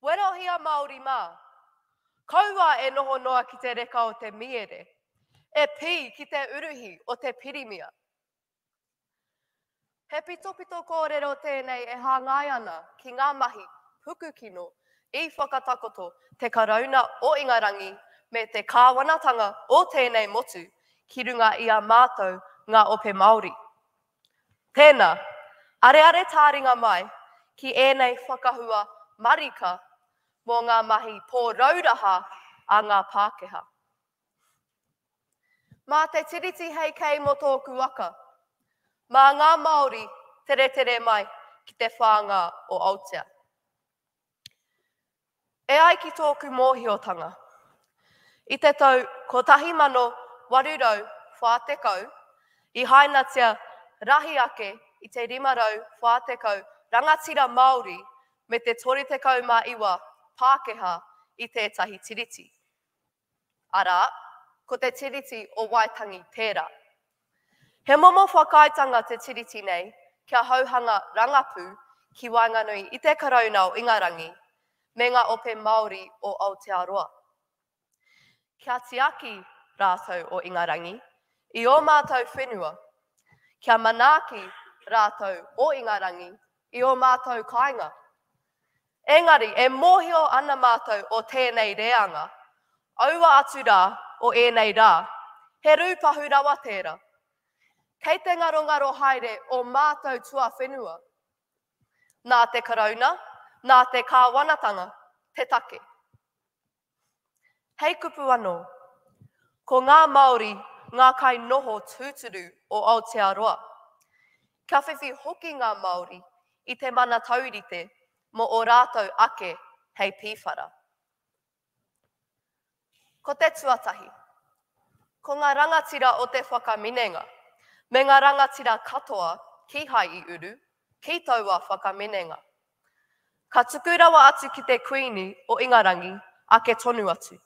Werohia Māori mā! Kaua e noho noa ki te reka o te miere, e pī ki te uruhi o te pirimia. He pitopito kōrero tēnei e hāngai ana ki ngā mahi pukukino i whakatakoto te Karauna o Ingarangi me te kāwanatanga o tēnei motu ki runga i a mātou ngā Ope Māori. Tēnā, areare tāringa mai ki ēnei whakahua marika mō ngā mahi pōrauraha a ngā Pākehā. Mā te Tiriti hei kei mō tōku waka, mā ngā Māori teretere mai ki te whānga o Aotea. E ai ki tōku mōhiotanga, i te tau 1840 i hainatia rahi ake i te 540 rangatira Māori me te 39 Pākehā i tētahi tiriti. arā, ko te Tiriti o Waitangi tērā. He momo whakaaetanga te Tiriti nei kia hauhanga rangapū ki waenganui i te Karauna o Ingarangi me ngā ope Māori o Aotearoa. Kia tiaki rātou o Ingarangi i ō mātou whenua, kia manaaki rātou o Ingarangi i ō mātou kāinga. Engari, e mōhio ana mātou o tēnei reanga, aua atu rā o ēnei rā, he rūpahu rawa tērā. Kei te ngarongaro haere ō mātou tuawhenua. Nā te Karauna, nā te Kāwanatanga te take. Hei kupu anō, ko ngā Māori ngā kai noho tūturu o Aotearoa. Kia whiwhi hoki ngā Māori i te mana taurite mō ō rātou ake hei pīwhara. Ko te tuatahi, ko ngā rangatira o te whakaminenga, me ngā rangatira katoa kīhai i uru, kī taua whakaminenga. Ka tuku rawa atu ki te Kuini o Ingarangi ake tonu atu,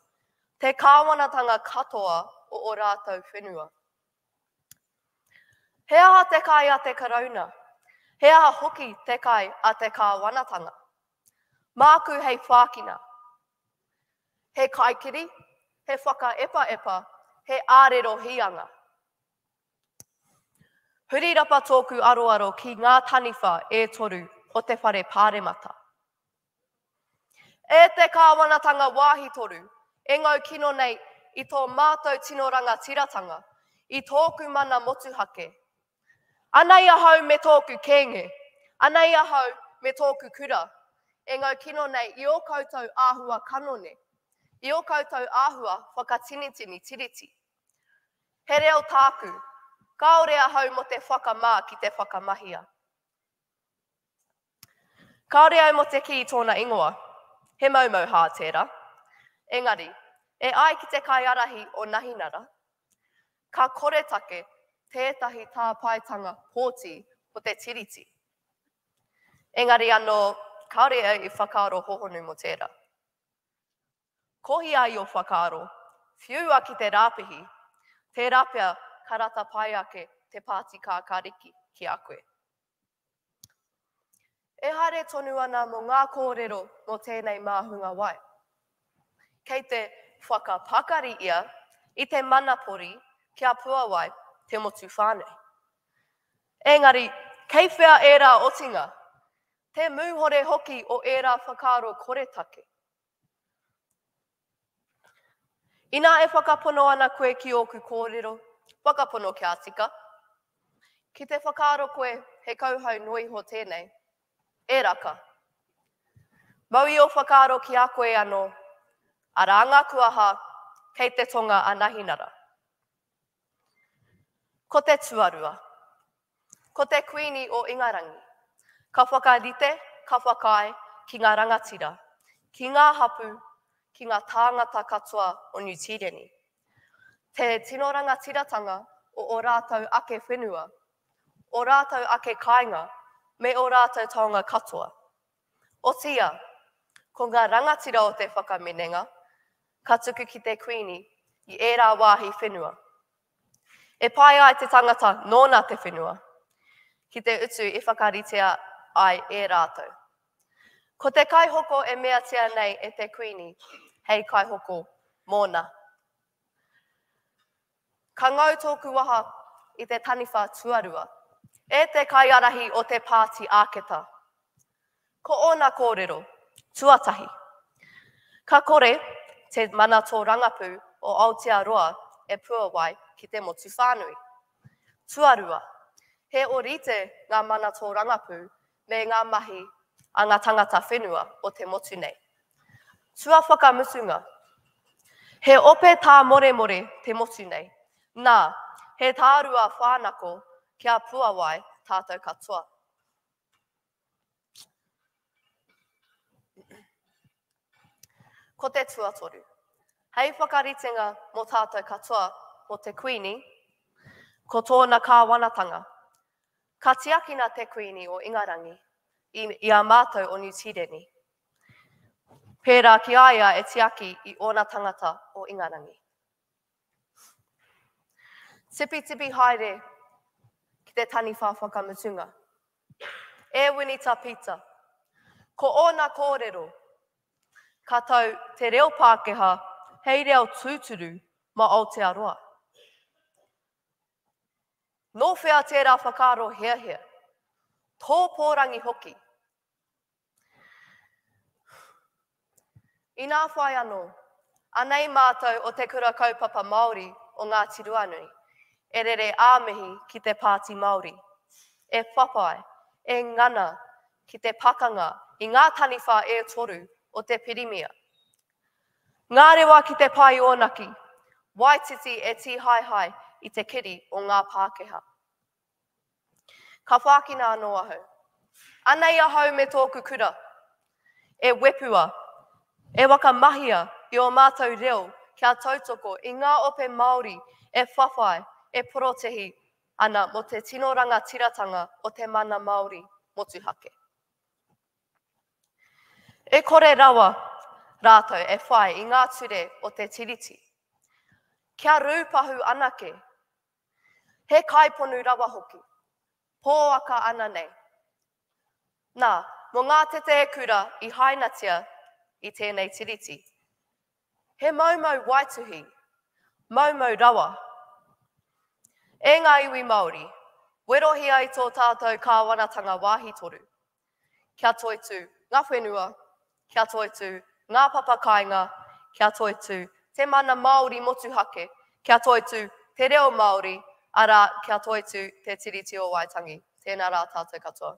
te kāwanatanga katoa o o rātou whenua. He aha te kai a te Karauna? He aha hoki te kai a te kāwanatanga? Māku hei whākina. He kaikiri, he whakaepaepa, he ārero hīanga. Huri rapa tōku aroaro ki ngā taniwha e toru o te whare pāremata. E te Kāwanatanga Wāhi Toru, e ngau kino nei i tō mātou tino rangatiratanga, i tōku mana motuhake. Anei ahau me tōku kēnge, anei ahau me tōku kura, e ngau kino nei i ō koutou āhua kanone, i ō koutou āhua whakatinitini tiriti. He reo tāku, kāore ahau mō te whakamā ki te whakamahia. Kāore au mō te kī tōna ingoa, he maumau hā tērā. Engari, e ai ki te kaiarahi o Nahinara, ka koretake tētahi tāpaetanga pōti ko te tiriti. Engari anō, kāore au i whakaaro hohonu mō tērā. Kohi ai o whakaaro, whiua ki te rāpihi, tērā pea ka rata pai ake te pāti kākāriki ki a koe. E haere tonu ana mō ngā kōrero mō tēnei māhunga wai. Kei te whakapakari ia i te manapori ki a Puawai te motu whānui. Engari, kei whea ērā otinga, te mūhore hoki o ērā whakaaro koretake. Inā e whakapono ana koe ki ōku kōrero, whakapono kia tika. Ki te whakaaro koe he kauhau noa iho tēnei, e raka. Mau i ō whakaaro ki a koe anō, arā ngā kuaha kei te tonga a Nahinara. Ko te tuarua. Ko te Kuini o Ingarangi. Ka whakarite, ka whakaae ki ngā rangatira, ki ngā hapū, ki ngā tāngata katoa o Niu Tīreni. Te tino rangatiratanga o o rātou ake whenua, o rātou ake kāinga me o rātou taonga katoa. Otiia, ko ngā rangatira o te whakaminenga ka tuku ki te Kuini i ērā wāhi whenua. E pai ai te tangata nōna te whenua ki te utu i whakaritea ai e rātou. Ko te kaihoko e meatia nei e te Kuini hei kaihoko mōna. Ka ngau tōku waha i te taniwha tuarua. E te kaiarahi o te Pāti Āketa. Ko ōna kōrero, tuatahi, ka kore te mana tōrangapū o Aotearoa e puawai ki te motu whānui. Tuarua, he ōrite ngā mana tōrangapū me ngā mahi a ngā tangata whenua o te motu nei. Tua whakamutunga, he ope tāmoremore te motu nei, nā, he tārua whānako kia puawai tātou katoa. Ko te tuatoru, hei whakaritenga mō tātou katoa, mō te Kuini, ko tōna kāwanatanga, Ka tiakina te Kuini o Ingarangi i, i a mātou o Niu Tīreni, pērā ki a ia e tiaki i ōna tangata o Ingarangi. Tipitipi haere ki te taniwha whakamutunga. E Winita Pita, ko ōna kōrero, ka tau te reo Pākehā hei reo tūturu mā Aotearoa. Nō whea tērā whakaaro heahea? Tō pōrangi hoki? Inā whai anō, anei mātou o Te Kura Kaupapa Māori o Ngāti Ruanui, e rere ā mihi ki te Pāti Māori, e whawhai, e ngana ki te pakanga i ngā taniwha e toru o te Pirimia, Ngarewa ki te pae onaki. Waititi e tihaihai i te keri o nga Pakeha. Ka whakina ano ahau. Anei ahau me toku kura. E wepua, e whakamahia i o matou reo kia tautoko i nga ope Maori e whawhai, e porotehi ana mo te tino rangatiratanga o te mana Maori motuhake. E kore rawa rātou e whai i ngā ture o te Tiriti. Kia rūpahu anake, he kaiponu rawa hoki, pōaka ana nei. Nā, mō ngā tetē kura i hainatia i tēnei Tiriti, he maumau waituhi, maumau rawa. E ngā iwi Māori, werohi ai tō tātou kāwanatanga wāhi toru. Kia toitū ngā whenua, kia toitū ngā papa kāinga, kia toitū te mana Māori motuhake, kia toitū te reo Māori, arā, kia toitū te Tiriti o Waitangi. Tēnā rā tātou katoa.